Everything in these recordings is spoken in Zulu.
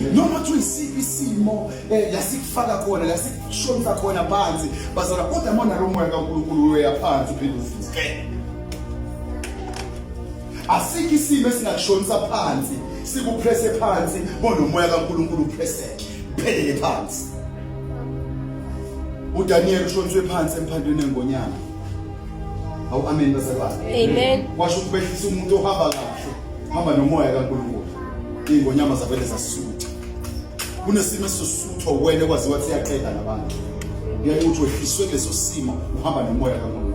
noma kuthiwa isiphi isimo eh, la sikufaka khona la sikushonisa khona phansi bazala kodwa mona lo moya kaNkulunkulu uya phansi uphinde uvuke asikho isimo esingakushonisa phansi sikupresse phansi bonomoya kaNkulunkulu upresseke phelele phansi uDaniel ushoniswe phansi emphandweni engonyama awu amen basebazi amen washo ukubehlisa umuntu ohamba kahle hamba nomoya kaNkulunkulu ingonyama zavele zasutha kunesimo esisutho wena kwazi wathi yaqeda nabantu ngeke uthi wehliswe leso simo uhamba nomoya kaNkulunkulu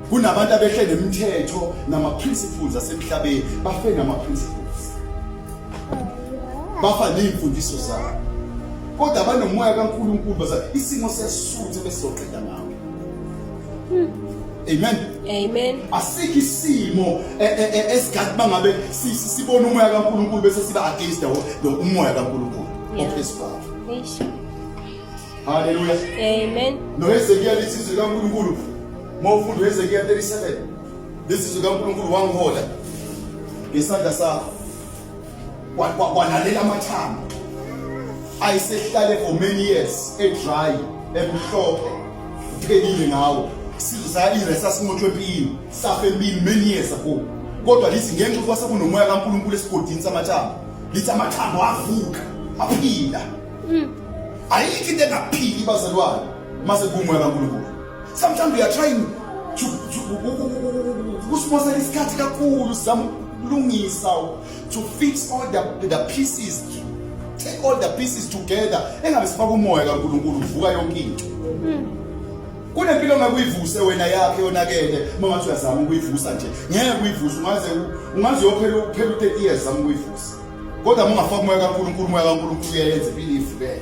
Kunabantu abehle nemithetho nama-principles asemhlabeni bafe nama-principles bafa ney'mfundiso zabo kodwa banomoya kaNkulunkulu baza isimo sesisuthe besizoqeda ngawo Amen. Amen. Asikho isimo e, e, e, esigathi bangabe sibona umoya kaNkulunkulu bese siba against the umoya kaNkulunkulu ophezulu. Eish. Haleluya. Amen. NoHezekiya lithi izwi likaNkulunkulu uma ufunda uHezekiya 37 lithi izwi likaNkulunkulu wangihola ngesandla sakho kwalalela amathambo ayisehlale for many years edry emhlophe uphelile ngawo sizayile sasimothwe empini safe empini many years ago kodwa lithi ngenxa ukuba sekunomoya kaNkulunkulu esigodini samathambo lithi amathambo avuka aphila mm. ayikho into engaphili bazalwane mase kumwe kaNkulunkulu sometimes we are trying to kusponsela isikhathi kakhulu sizama ukulungisa to fix all the, the pieces take all the pieces together engabe sifaka umoya kaNkulunkulu uvuka yonke into mm. kunempilo ngakuyivuse wena yakhe yonakele uma ngathi uyazama ukuyivusa nje ngeke uyivusa ungaze ungaze uyophela uphela u-30 years zama ukuyivusa kodwa mungafaki umoya kaNkulunkulu umoya kaNkulunkulu uyayenza impilo ivubele